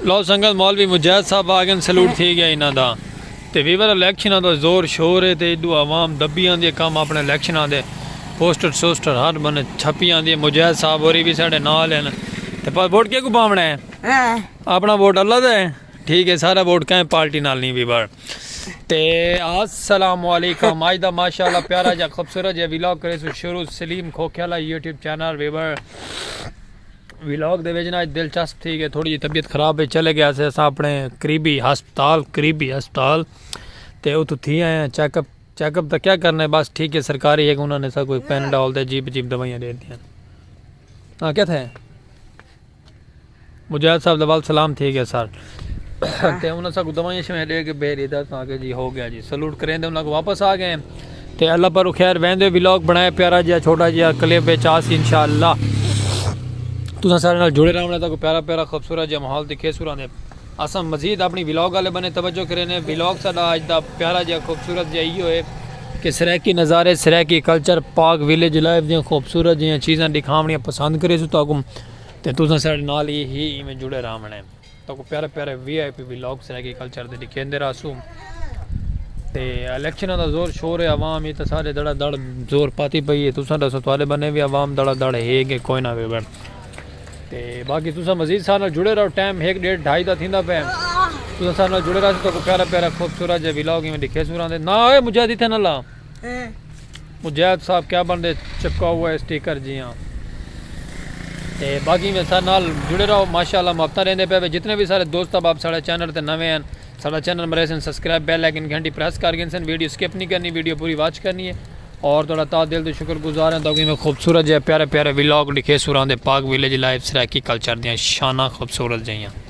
لو سنگت مولوی مجاہد صاحب آ گئے سلوٹ تھی گیا انہاں دا تے ویور الیکشناں دا زور شور ہے تے ادو عوام دبی آندی کم اپنے الیکشناں دے پوسٹر سوسٹر ہر بنے چھپی آندی مجاہد صاحب ہوری بھی ساڈے نال ہیں تے پر ووٹ کیکو پاونا ہے اپنا ووٹ اللہ دا ہے ٹھیک ہے سارا ووٹ کہیں پارٹی نال نہیں ویور تے السلام علیکم اج دا ماشاءاللہ پیارا جا خوبصورت جا ویلاگ کرے سو شروع Saleem Khokhiala YouTube channel viewer vlog دے وچ نا اج دلچسپ تھی گئے تھوڑی جی طبیعت خراب ہے چلے گیا سے اساں اپنے قریبی ہسپتال قریبی ہسپتال تے اتھو تھی آئے ہیں چیک اپ چیک اپ دا کیا کرنا ہے بس ٹھیک ہے سرکاری ہے انہوں نے سا کوئی پین ڈال دے جیب جیب دوائیاں دے دیا ہاں کیا تھے مجاہد صاحب دا وال سلام تھی گئے سر تے انہاں ساکوں دوائیاں شوائیاں ڈے کے بھیج ڈیتا اساں آکھیا جی ہو گیا جی سلوٹ کریندے انہاں کوں واپس آ گئے تے اللہ پر خیر ویندے ولاگ بنایا پیارا جیا چھوٹا جیا کلپ وچ آسی انشاءاللہ تساں سارے نال جڑے رہو تاکو پیارا پیارا خوبصورت جیا ماحول دکھے سوراں دے اساں مزید اپنی ولاگ والے بنے توجہ کرینے ولاگ ساڈا اج دا پیارا جیا خوبصورت جیا ایو ہے کہ سرائیکی نظارے Saraiki culture Pak village life دیاں خوبصورت جیاں چیزاں دکھاونیاں پسند کرے سو تاکو تے تساں سارے نال ہی ایویں جڑے رہو تاکو پیارے پیارے V I P V logs agriculture دے ڈکھیندے رہسوں تے الیکشناں دا زور شور ہے عوام ہی تے سارے دڑا دڑ زور پاتی پئی ہے تساں دسو تواڈے بنے وی عوام دڑا دڑ ہے کہ کوئی نہ وے بن تے باقی تساں مزید سارے نال جڑے رہو ٹائم ہیک ڈیڑھ ڈھائی دا تھیندا پے تساں سارے نال جڑے رہسو تاکو پیارے پیارے خوبصورت جے وی لاگ میں ڈکھے سوراں دے نا اے مجھے دیتے نہ لا مجاہد صاحب کیا بن دے چپکا ہوا ہے سٹیکر جیاں تے باقی میں سارے نال جڑے رہو ماشاءاللہ محبتہ رہندے پہ جتنے بھی سارے دوست اب آپ سارے چینل تے نویں ہیں سارا چینل مرے سن سبسکرائب بیل لیکن گھنٹی پریس کر گئے سن ویڈیو سکپ نہیں کرنی ویڈیو پوری واچ کرنی ہے اور تھوڑا تا دل تو شکر گزار ہیں تاکہ میں خوبصورت جائے پیارے پیارے ویلاگ لکھے سوران دے Pak village life Saraiki culture دیاں شانہ خوبصورت جائیاں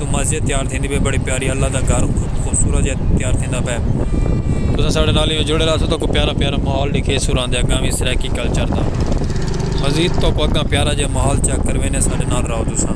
توں مسجد تیار تھیندی پئی بڑی پیاری اللہ دا گھر خوبصورت جیہا تیار تھیندا پئے تساں ساڈے نال ایویں جڑے رہسو تہاکوں پیارا پیارا ماحول ڈکھیسوں راندے اگاں وی سرائیکی کلچر دا مزید تہاکوں اگاں پیارا جیہا ماحول چیک کرویندے ساڈے نال رہو تساں۔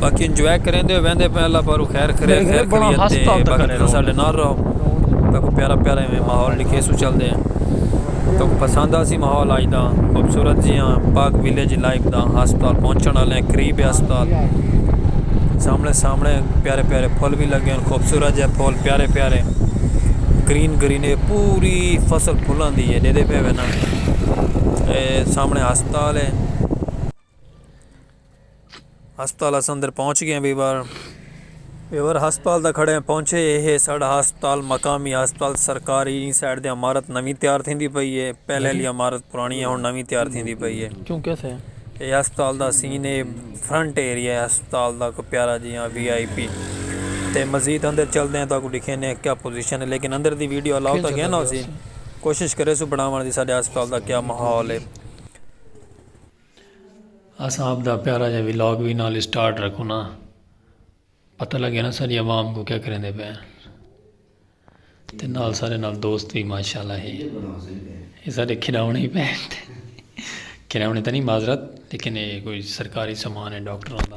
باقی انجوائے کریندے ویندے پئے اللہ پاروں خیر کرے خیر کریے تے باقی تساں ساڈے نال رہو تاکو پیارا پیارا ایویں ماحول لکھے سو چلدے تو پسند آسی ماحول آج دا خوبصورت جی ہاں پاک ویلیج لائف دا ہسپتال پہنچن والے ہیں قریب ہے ہسپتال سامنے سامنے پیارے پیارے پھول بھی لگے ہیں خوبصورت جے پھول پیارے پیارے گرین گرین ہے پوری فصل پھلاں دی ہے دیدے پہ وینا سامنے ہسپتال ہے ہسپتال اساں اندر پہنچ گئے ہیں بیبر بیبر ہسپتال دا کھڑے ہیں پہنچے یہ ہے ساڑھا ہسپتال مقامی ہسپتال سرکاری این سائڈ دے امارت نوی تیار تھیں دی پئی ہے پہلے لی امارت پرانی ہے ہون نوی تیار تھیں دی پئی ہے یہ ہسپتال دا سین ہے فرنٹ ایریا ہے ہسپتال دا کو پیارا جی ہاں وی آئی پی تے مزید اندر چل دیں تاکہ دکھیں ہیں کیا پوزیشن ہے لیکن اندر دی ویڈیو اللہ ہوتا گیا نا ہو سی کوشش کرے سو بڑھاوان دی ساڑھے ہسپتال دا کیا محول ہے اساں آپ دا پیارا جا ولاگ وی نال سٹارٹ رکھونا پتہ لگے نا ساری عوام کو کیا کریں دے پہ تے نال سارے نال دوست بھی ماشاءاللہ ہے یہ سارے کھلاونے ہی پہ کھلاونے تا نہیں معذرت لیکن یہ کوئی سرکاری سامان ہے ڈاکٹر آندا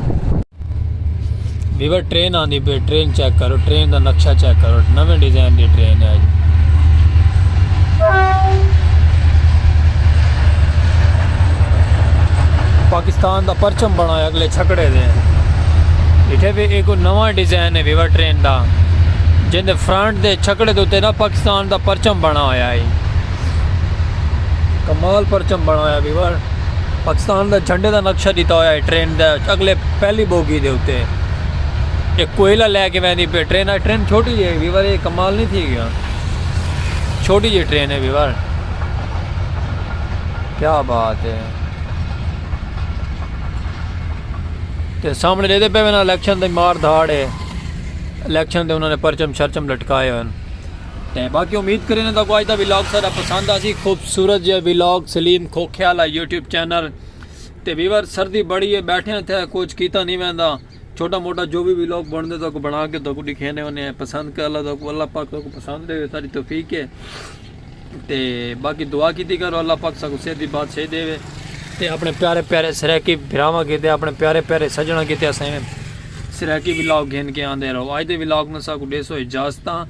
ویور ٹرین آندی پہ ٹرین چیک کرو ٹرین دا نقشہ چیک کرو نویں ڈیزائن دی ٹرین ہے پاکستان دا پرچم بنا ہے اگلے چھکڑے دے اتنے بھی ایک نواں ڈیزائن ہے ویور ٹرین دا جن دے فرنٹ دے چھکڑے دے نا پاکستان دا پرچم بنا ہوا ہے کمال پرچم بنا ہوا ویور پاکستان دے جھنڈے دا نقشہ ݙتا ہویا ہے ٹرین دے اڳلے پہلی بوگی دے اتے اک کوئلہ لے کے ویندی پئی ٹرین ہے ٹرین چھوٹی جی ہے ویور اے کمال نہیں تھی گیا چھوٹی جی ٹرین ہے ویور کیا بات ہے تے سامنے دے دے پے وینا الیکشن دے مار دھاڑ ہے الیکشن دے انہوں نے پرچم شرچم لٹکائے ہوئے ہیں تے باقی امید کرینداں تہاکوں اج دا ولاگ سارا پسند آسی خوبصورت جے vlog Saleem Khokhewala YouTube channel تے ویور سردی بڑی ہے بیٹھے تھے کچھ کیتا نہیں ویندا چھوٹا موٹا جو بھی ولاگ بندا تہاکوں بنا کے تہاکوں دکھینے ہونے پسند کر اللہ تہاکوں اللہ پاک تہاکوں پسند دے ساری توفیق ہے تے باقی دعا کیتی کرو اللہ پاک ساکوں صحت دی بات صحیح دے وے تے اپنے پیارے پیارے سرائیکی بھراواں کیتے اپنے پیارے پیارے سجناں کیتے اسیں سرائیکی ولاگ گھن کے آندے رہو اج دے ولاگ نہ ساکوں ڈیسو اجازتاں